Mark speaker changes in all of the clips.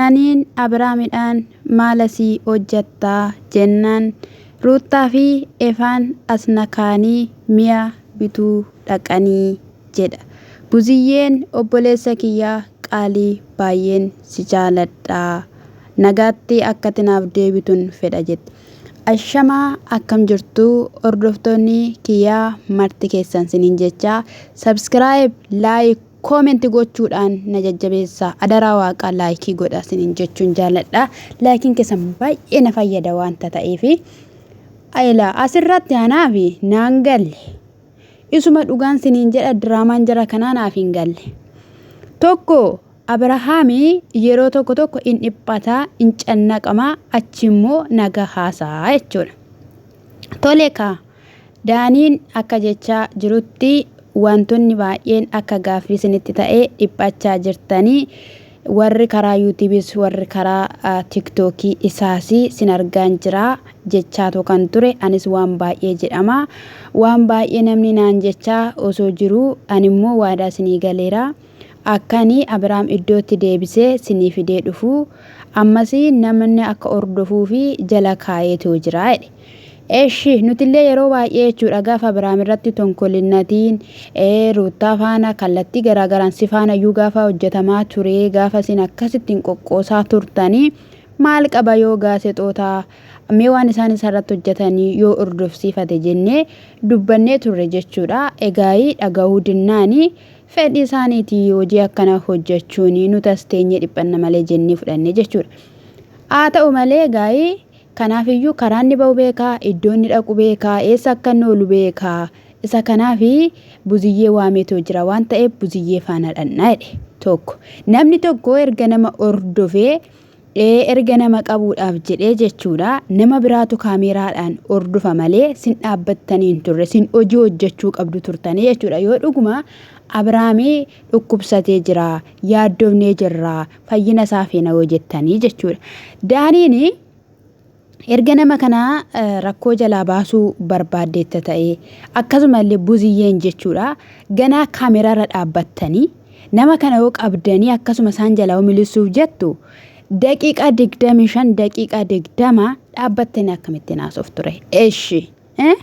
Speaker 1: Kan'aaniin Abraamidhaan, Maal asii hojjatta? jennaan, Ruuttaa fi Efaan as na kaa'anii mi'a bituu dhaqani jedha. Buziyyeen obboleessa kiyya qaalii baay'een si jaaladha. Nagaatti akkati naaf deebitun fedha jette. Ashama akkam jirtu hordoftoonni kiyya marti keessan sinin jecha subscribe like Comment gochuudhaan na jajjabeessaa adaraa waaqaa like godha sinin jechuun jaaladha laakiin keessan baay'ee na fayyada waanta ta'eefi ayla asirratti anaafi naan galle isuma dhugaan sinin jedha diraamaan jara kanaa naaf hin galle tokko abrahaami yeroo tokko tokko in dhiphata in cannaqama achi immoo naga haasaa jechuudha Tole kaa! Daaniin akka jechaa jirutti waantonni baay'een akka gaaffii isinitti ta'ee dhiphachaa jirtanii warri karaa yuutiibiis warri karaa tiktookii isaas sin argaan jira jechaatoo kan ture anis waan baay'ee jedhama waan baay'ee namni naan jechaa osoo jiruu animmoo waadaa isinii galeera Akka ani Abraam iddootti deebisee sinii fidee dhufu, ammas namni akka hordofuuf jala kaayeetoo jira jedhe. Eshi, nutillee yeroo baay'ee jechuudha gaafa Abraam irratti tonkolinnatiin, ee, Ruuttaa faana kallattii garaagaraan si faana iyyuu gaafa hojjetamaa ture, gaafa isin akkasitti hin qoqqoosaa turtanii, maal qaba yoo gaasexoota mee waan isaan isarratti hojjetanii yoo hordofsiifate jennee dubbannee turre jechuudha. Egaayii dhagahuu dinnaanii Fedhi isaaniiti hojii akkanaa hojjachuun nuti as teenyee dhiphanna malee jennee fudhanne jechuudha. Haa ta'u malee gaa'ii kanaaf iyyuu karaa inni ba'u beeka, iddoo inni dhaqu beeka, eessa akka inni oolu beeka. Isa kanaaf buziyyee waameetoo jira waan ta'eef buziyyee faana dhannaa jedhe tokko. Namni tokko erga nama hordofee dhee erga nama qabuudhaaf jedhee jechuudha nama biraatu kaameeraadhaan hordofa malee sin dhaabbattanii hin turre sin hojii hojjechuu qabdu turtanii jechuudha yoo dhuguma Abiraamii dhukkubsatee jira yaaddoofnee jirra fayyina isaa feena yoo jettanii jechuudha daaniin Erga nama kana rakkoo jalaa baasuu barbaaddeetta ta'ee, akkasuma illee Buziyyeen jechuu dha, ganaa camera irra dhaabbattanii, nama kana yoo qabdanii akkasuma isaan jalaa yoo milissuuf jettu, daqiiqaa 25, daqiiqaa 20 dhaabbattanii akkamittiin haasoftu ree? Eshi! Eh?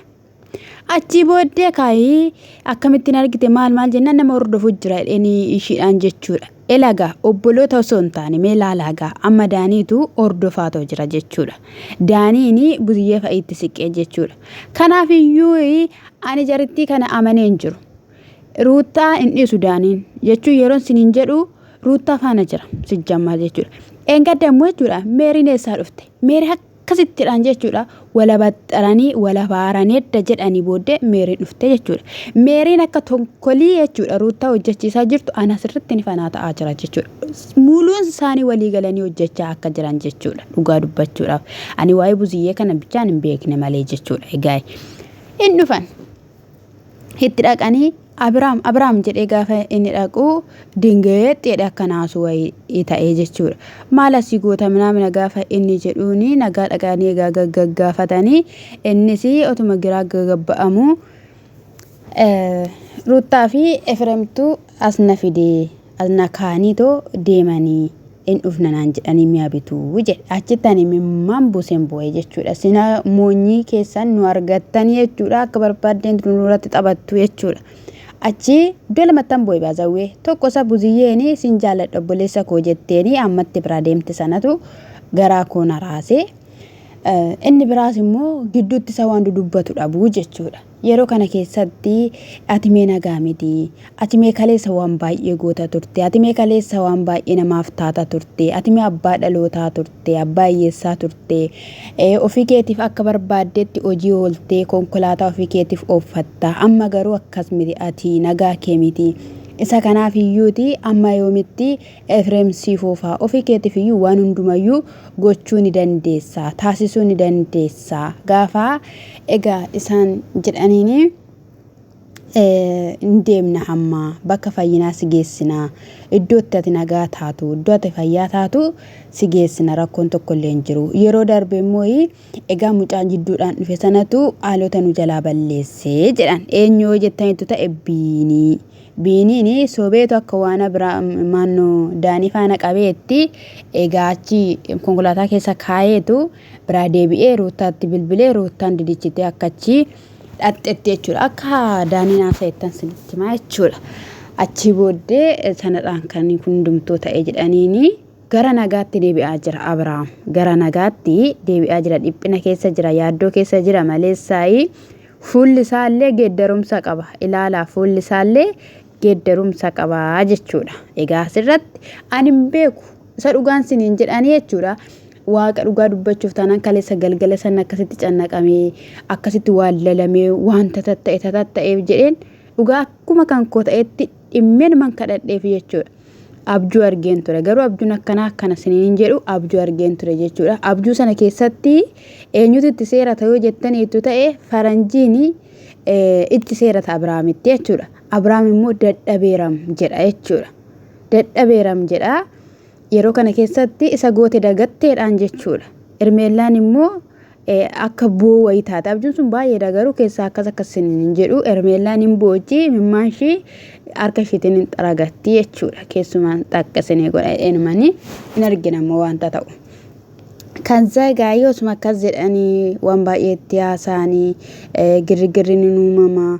Speaker 1: Achii booddee kaayee akkamittiin argite maal maal jennaan nama hordofu jira jedhanii ishiidhaan jechuudha. Elagaa obboloota osoo hin taane mee laalaagaa amma daaniitu hordofaa too jira jechuudha. Daaniini buziyyee fa'iitti siqee jechuudha. Kanaaf iyyuu ani jarittii kana amanee hin jiru. Ruuttaa hin dhiisu daaniin jechuun yeroon siniin jedhu ruuttaa faana jira sijjammaa jechuudha. Dheengadda immoo jechuudha meeriin eessaa dhufte? Meerii Akkasittidhaan jechuudha walabaxxaranii walabaarani edda jedhanii booddee Meeriin dhufte jechuudha. Meeriin akka tonkolii jechuudha Ruuttaa hojjechiisaa jirtu ana sirritti ni fanaa ta'aa jira jechuudha. Muluun isaanii walii galanii hojjechaa akka jiran jechuudha dhugaa dubbachuudhaaf. Ani waa'ee buziyyee kana bichaan hin beekne malee jechuudha egaa. Hin dhufan. Itti dhaqanii Abiraam Abiraam jedhee gaafa inni dhaqu dingeetti jedhe akka naasu wayii ta'ee jechuudha. Maal asii goota minaamina gaafa inni jedhuun nagaa dhaqanii egaa gaggaafatanii innis otuma giraa gagabba'amu Ruuttaa fi Efreemtu as na fidee. Ana kaaniitoo deemanii in dhufna naan jedhanii mi'a bitu jedhe. Achitti ani imimmaan buuseen boo'e jechuudha. Sina moonyii keessan nu argattan jechuudha. Akka barbaaddeen nurratti taphattu jechuudha. Achi iddoo lamattan boo'e baazawwee. Tokko isa buziyyeeni sin jaalladha obboleessa koo jetteeni ammatti biraa deemte sanatu garaa koo na raase. Inni biraas immoo gidduutti isa waan dudubbatu dhabu jechuudha. Yeroo kana keessatti ati mee nagaa miti, ati mee kaleessa waan baay'ee goota turte, ati mee kaleessa waan baay'ee namaaf taata turte, ati mee abbaa dhalootaa turte, abbaa hiyyeessaa turte, ofii keetiif akka barbaaddetti hojii ooltee konkolaataa ofii keetiif ooffatta, amma garuu akkas miti ati nagaa kee miti. Isa kanaaf iyyuuti amma yoomitti Efreem si fuufaa. Ofii keetiif iyyuu waan hundumayyuu gochuu ni dandeessa, taasisuu ni dandeessa. Gaafa egaa isaan jedhaniini hin deemna hamma bakka fayyinaa si geessina. Iddoo itti ati nagaa taatu, iddoo ati fayyaa taatu si geessina rakkoon tokko illee hin jiru. Yeroo darbe immoo Egaa mucaa jidduudhaan dhufe sanatu haalota nu jalaa balleesse jedhan. Eenyu yoo jettanitu ta'e Biinii. Biiniin sobeetu akka waana biraa maannoo daanii faana qabeetti egaa achi konkolaataa keessa kaayeetu biraa deebi'ee ruuttaatti bilbilee ruuttaan didichitee akka achi dhaqxetti jechuudha. Akka daaniin haasa'ettan sinitti himaa jechuudha. Achii booddee sanadhaan kan hundumtuu ta'e jedhaniini. Gara nagaatti deebi'aa jira Abrahaam. Gara nagaatti deebi'aa jira. Dhiphina keessa jira. Yaaddoo keessa jira maleessaayi. Fuulli isaallee geeddarumsa qaba. Ilaalaa fuulli isaallee geeddarumsa qaba jechuudha. Egaa asirratti ani hin beeku. Isa dhugaan siniin jedhanii jechuudha. Waaqa dhugaa dubbachuuf taanaan kaleessa galgala san akkasitti cannaqamee akkasitti waan lalamee wanta tatta'e tatta'eef jedheen dhugaa akkuma kan koo ta'etti dhimmeen man kadhadheef jechuudha. Abjuu argeen ture garuu abjuun akkanaa akkana siniin jedhu abjuu argeen ture jechuudha. Abjuu sana keessatti eenyutu itti seera ta'uu jettaniitu ta'e faranjiin itti seera ta'a Abiraamitti jechuudha. Abiraam immoo dadhabeeram jedha jechuudha. Dadhabeeram jedha yeroo kana keessatti isa goote dagatteedhaan jechuudha. Irmeellaan immoo akka boo wayii taate abjuun sun baay'eedha garuu keessaa akkas akkas sin hin jedhu ermeellaan hin boochi mimmaan ishii harka ishiitiin hin xaragatti jechuudha keessumaan takka isinii godha enumanii hin argina immoo wanta ta'u. Kan zagaa yoo suma akkas jedhanii waan baay'eetti haasaanii girgirri ni uumama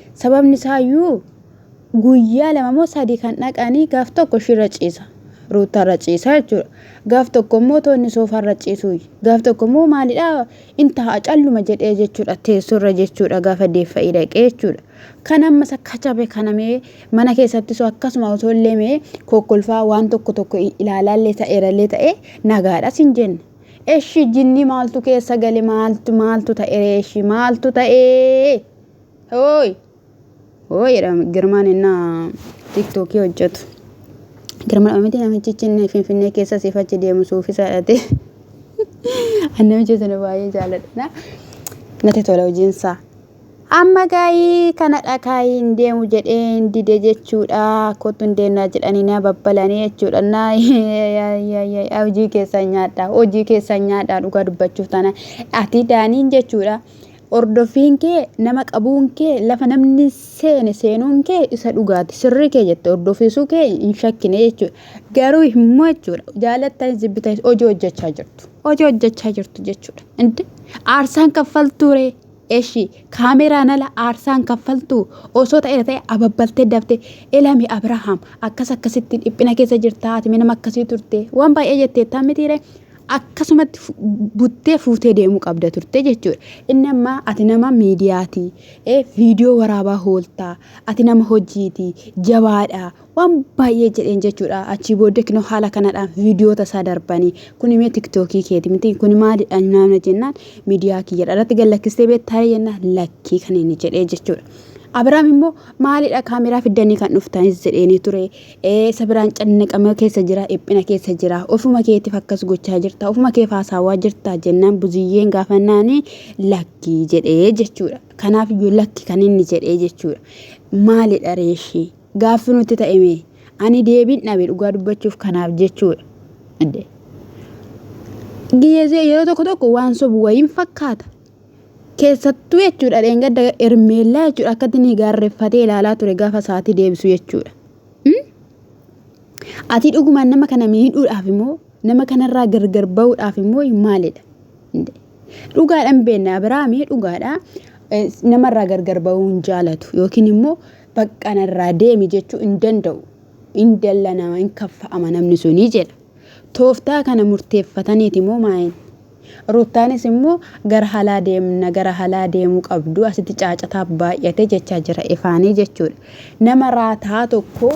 Speaker 1: Sababni isaayyuu guyyaa lama moo sadii kan dhaqanii gaaf tokko ishirra ciisa. Ruuttaarra ciisa jechuudha. Gaaf tokko immoo toonni soofaarra ciisuu. Gaaf tokko immoo maalidhaa in taa'a calluma jedhee jechuudha teessorra jechuudha gaafa deeffa'ii dhaqee jechuudha. Kan amma isa kachabe kana mee mana keessatti soo akkasuma osoo illee mee kokkolfaa waan tokko tokko ilaalaa illee ta'eera illee ta'e nagaadha sin jenna. Eshi jinni maaltu keessa gale maaltu maaltu ta'e eshi maaltu ta'ee? Hooy! Hooy jedha Girmaan innaa tiktookii hojjetu. Girmaan miti namichichi inni Finfinnee keessa siif achi deemu suufisaa dhate. Ani namicha sana baay'ee jaaladha. Natti tola hojiinsaa. Amma gaayii kana dhakaayii hin deemu jedhee hin dide jechuudha. Kottu hin deemnaa jedhanii na babbalanii jechuudha. Na hojii keessan nyaadhaa. Hojii keessan nyaadhaa dhugaa dubbachuuf taana. Ati daaniin jechuudha. Hordoffiin kee nama qabuun kee lafa namni seene seenuun kee isa dhugaati sirrii kee jette hordoffiisuu kee hin shakkine jechuudha. Garuu immoo jechuudha jaalattan jibbitanis hojii hojjechaa jirtu. Hojii hojjechaa jirtu jechuudha. Inti aarsaan kaffaltuuree eshi kaameraan ala aarsaan kaffaltuu osoo ta'e ta'e ababbaltee daftee ilami Abirahaam akkas akkasitti dhiphina keessa jirta ati nama akkasii turte waan baay'ee jetteettaa mitiiree akkasumatti buttee fuutee deemuu qabda turte jechuudha. Inni ammaa ati nama miidiyaati. Viidiyoo waraabaa hooltaa. Ati nama hojiiti. Jabaadha. Waan baay'ee jedheen jechuudha. Achii booddee kinoo haala kanadhaan viidiyoota isaa darbanii. Kun imee tiktookii keeti miti. Kun maalidha naamna jennaan miidiyaa kiyyadha. Irratti gallakkistee beektaa jennaan lakkii kan inni jedhee jechuudha. Abiraam immoo maalidha kaameraa fiddanii kan dhuftanis jedheenii ture. Ee isa biraan cannaqama keessa jira, dhiphina keessa jira. Ofuma keetiif akkas gochaa jirta, ofuma keef haasaawaa jirta jennaan buziyyeen gaafannaani lakki jedhee jechuudha. Kanaaf iyyuu lakki kan inni jedhee jechuudha. Maalidha reeshii? Gaaffi nutti ta'e mee? Ani deebiin dhabe dhugaa dubbachuuf kanaaf jechuudha. Yeroo tokko tokko waan sobu wayiin fakkaata. keessattuu jechuudha dheengadda ermeellaa jechuudha akkatti inni gaarreffatee ilaalaa ture gaafa sa'aatii deebisu jechuudha. Ati dhugumaan nama kana miidhuudhaaf immoo nama kanarraa gargar ba'uudhaaf immoo maalidha? Dhugaadhaan beekna Abiraamii dhugaadha namarraa gargar ba'uu hin jaalatu yookiin immoo bakka narraa deemi jechuu hin danda'u. Hin dalla nama hin kaffa'ama namni sunii jedha. Tooftaa kana murteeffataniiti moo maayini? Ruuttaanis immoo gara halaa deemna gara halaa deemuu qabdu asitti caacataa baay'ate jechaa jira ifaanii jechuudha. Nama raataa tokko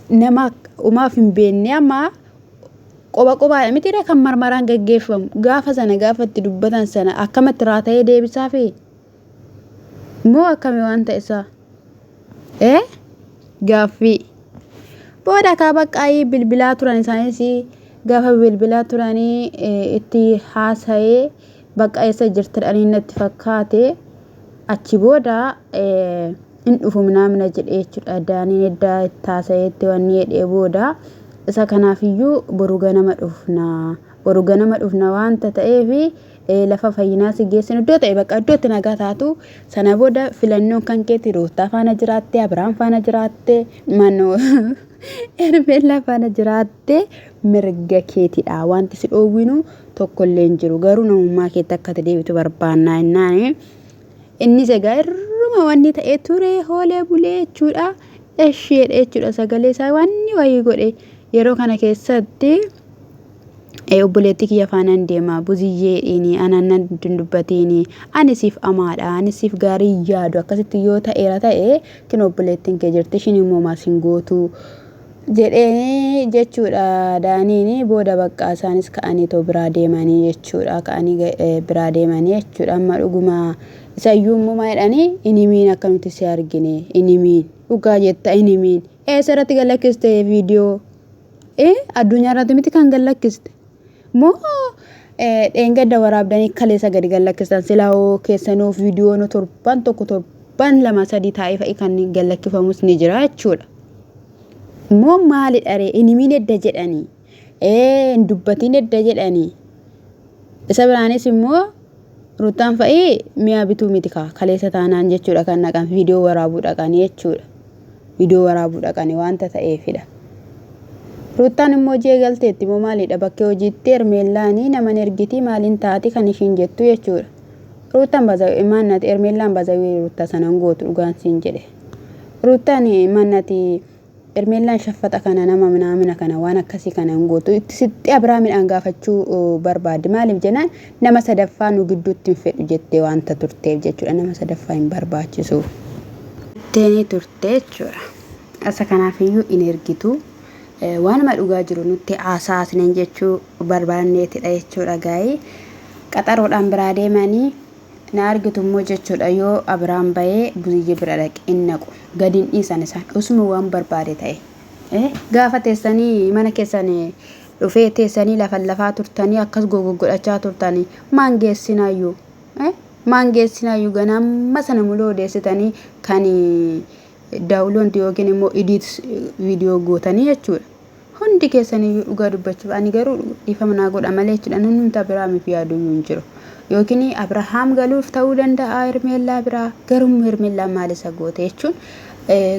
Speaker 1: nama umaaf hin beekne amma qoba qobaadha mitiiree kan marmaraan gaggeeffamu gaafa sana gaafa itti dubbatan sana akkamatti raata'ee deebisaafii? Moo akkami wanta isaa? Ee? Gaaffii. Booda kaa baqqaayii bilbilaa turan isaanis gaafa bilbilaa turanii itti haasa'ee bakka eessa jirtan ani natti fakkaate achi booda hin dhufu minaamina jedhee jechuudha daaniin eddaa itti haasa'eetti wanni jedhee booda isa kanaafiyyuu boru ganama dhufna. Boru ganama dhufna waanta ta'eef lafa fayyinaa si geessinu iddoo ta'e bakka iddootti nagaa taatu sana booda filannoon kan keeti ruuttaa faana jiraattee abiraam faana jiraattee manoo ermeellaa faana jiraattee mirga keetidha wanti si dhoowwinu tokkollee hin jiru garuu namummaa keetti akka ati deebitu barbaannaa innaani innis egaa irruma wanni ta'ee ture hoolee bulee jechuudha eshii jedhee jechuudha sagalee isaa wanni wayii godhe yeroo kana keessatti Ee obboleettii kiyya faanaan deema buziyyee dhiini anaan nan dubbatiini ani siif amaadha ani siif gaarii yaadu akkasitti yoo ta'eera ta'e kin obboleettiin kee jirti ishiin immoo maal siin gootu jedhee jechuudha daaniini booda baqqaa isaanis ka'anii too biraa deemanii jechuudha ka'anii biraa deemanii jechuudha amma dhuguma isayyuu immoo maal jedhanii inimiin akka nuti si argine inimiin dhugaa jetta inimiin eessa irratti galakkiste viidiyoo Ee addunyaa irratti miti kan gad lakkiste. Moo eh, dheengadda waraabdanii kaleessa gadi gad lakkistan silaa hoo keessanuu viidiyoon torban tokko torban lama sadii taa'ee fa'i kan gad lakkifamus ni jira jechuudha. Moo maalidha ree hin himiin edda jedhanii ee hin dubbatiin edda jedhanii isa biraanis immoo Ruttaan fa'i mi'a bituu miti kaa kaleessa taanaan jechuudha kan dhaqan viidiyoo waraabuu dhaqanii jechuudha. Viidiyoo waraabuu dhaqanii waanta ta'eefidha. Ruttaan immoo hojii eegalteetti moo maalidha bakkee hojiitti Hermeellaanii naman ergitii maaliin taati kan ishiin jettu jechuudha. Ruttaan bazaawii maannati Hermeellaan bazaawii ruttaa sanan gootu dhugaan siin jedhe. Ruttaan maannati Ermeellaan shaffaxa kana nama minaamina kana waan akkasii kana hin gootu itti sixxee Abiraamidhaan gaafachuu barbaaddi maaliif jennaan nama sadaffaa nu gidduutti hin fedhu jettee waanta turteef jechuudha nama sadaffaa hin barbaachisu jetteenii turte jechuudha asa kanaafiyyuu hin ergitu waanuma dhugaa jiru nutti haasaa isiniin jechuu barbaanneetidha jechuudha gaa'ii qaxaroodhaan biraa deemanii na argitu immoo jechuudha yoo Abiraam bahee Buziyye bira dhaqe hin naqu gadi hin dhiisan isaan osuma waan barbaade ta'e Eh, gaafa teessanii mana keessan dhufee teessanii lafan lafaa turtanii akkas gogoggodhachaa turtanii maan geessinaayyuu Eh, maan geessinaayyuu ganaa amma sana muluu odeessitanii kan daawuloonti yookiin immoo idiit viidiyoo gootanii jechuudha Hundi keessan iyyuu dhugaa dubbachuuf ani garuu dhiifama naa godha malee jechuudha namnumti Abirahaamiif yaadu iyyuu hin jiru. Yookiin Abirahaam galuuf ta'uu danda'a Hermeellaa biraa garuu Hermeellaan maal isa goote jechuun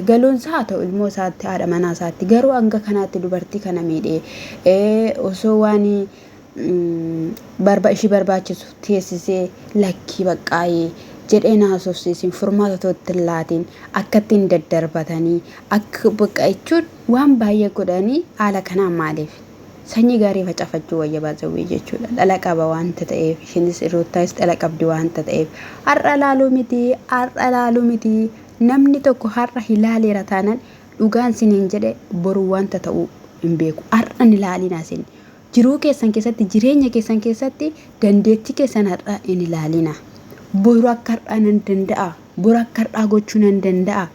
Speaker 1: galuun isaa haa ta'u ilmoo isaatti haadha manaa isaatti garuu hanga kanaatti dubartii kana miidhee osoo waan barba ishii barbaachisu teessisee lakkii baqqaayee jedheen haasofsiisin furmaata tootti hin laatiin akka ittiin daddarbatanii akka bakka jechuun waan baay'ee godhanii haala kanaa maaliif sanyii gaarii facafachuu wayya baazawwee jechuudha dhala qaba waanta ta'eef ishinis ruuttaayis dhala qabdi waanta ta'eef har'a laaluu miti har'a laaluu miti namni tokko har'a hilaaleera taanan dhugaan siniin jedhe boru waanta ta'uu hin beeku har'a hin ilaalinaa sini Jiruu keessan keessatti, jireenya keessan keessatti dandeettii keessan har'aa hin ilaalina. Boru akka har'aa nan danda'a, boru akka har'aa gochuu nan danda'a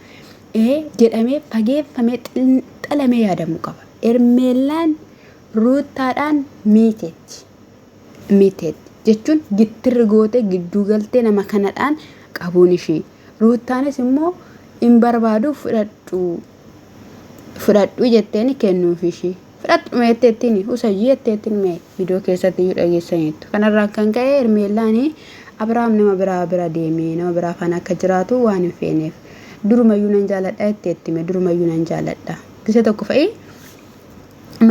Speaker 1: ee jedhamee fageeffamee xinxalamee yaadamuu qaba. Ermeellaan Ruuttaadhaan miiteetti. Miiteetti jechuun gittirri gootee gidduu galtee nama kanadhaan qabuun ishii. Ruuttaanis immoo hin barbaadu fudhadhu fudhadhu jetteeni kennuuf ishii fudhadhu meetteettiin usayyii jetteettiin mee viidiyoo keessatti iyyuu dhageessaniittu kanarraan kan ka'e hermeellaani abrahaam nama biraa bira deemee nama biraa faana akka jiraatu waan hin feeneef durumayyuu nan jaaladha jetteetti mee durumayyuu nan jaaladha gisa tokko fa'i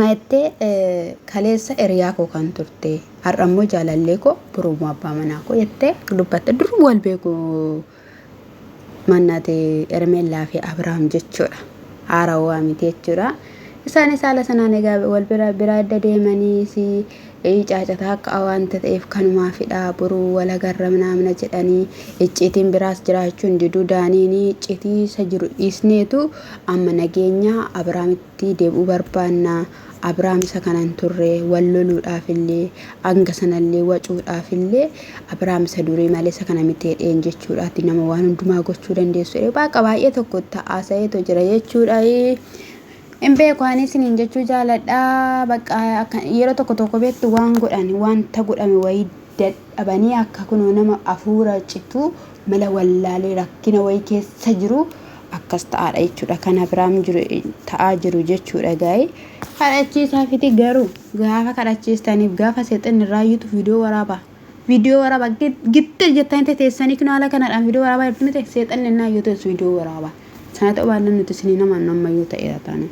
Speaker 1: mayettee kaleessa hiriyaa koo kan turte har'a immoo jaalallee koo borummoo abbaa manaa koo jettee dubbatte duruma wal beeku mannate Hermeellaa fi Abrahaam jechuudha. Haarawaa miti jechuudha. Isaanis haala sanaan egaa wal bira biraa adda deemanii si caacataa akka awaanta ta'eef kanumaafidha boruu wal agarra manaamna jedhanii icciitiin biraas jiraachuun diduu daaniin icciitii isa jiru dhiisneetu amma nageenya Abrahaamitti deebi'uu barbaanna. Abraam isa kana hin turre, wal loluudhaaf illee, hanga sana illee wacuudhaaf illee, Abraam isa durii malee isa kana miti jedheen jechuudha. Ati nama waan hundumaa gochuu dandeessu jedhee waaqa baay'ee tokko itti haasa'eetu jira jechuudha. Hin beeku ani isiniin jechuu jaaladha. Bakka akka yeroo tokko tokko beektu waan godhan wanta godhame wayii dadhabanii akka kunoo nama hafuura citu mala wallaalee rakkina wayii keessa jiru akkas ta'aadha jechuudha kan Abiraam jiru ta'aa jiru jechuudha gaa'ee kadhachiisaa fiti garuu gaafa kadhachiistaniif gaafa seexanni raayyutu viidiyoo waraaba viidiyoo waraaba gitta jettanii teteessanii kun haala kanadhaan viidiyoo waraabaa jirtu miti seexanni innaa yoo teessu viidiyoo waraaba sana ta'uu baannaan nuti isinii namaan ammayyuu ta'eera taana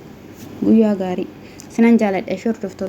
Speaker 1: guyyaa gaarii sinan jaaladha ishee hordoftoota.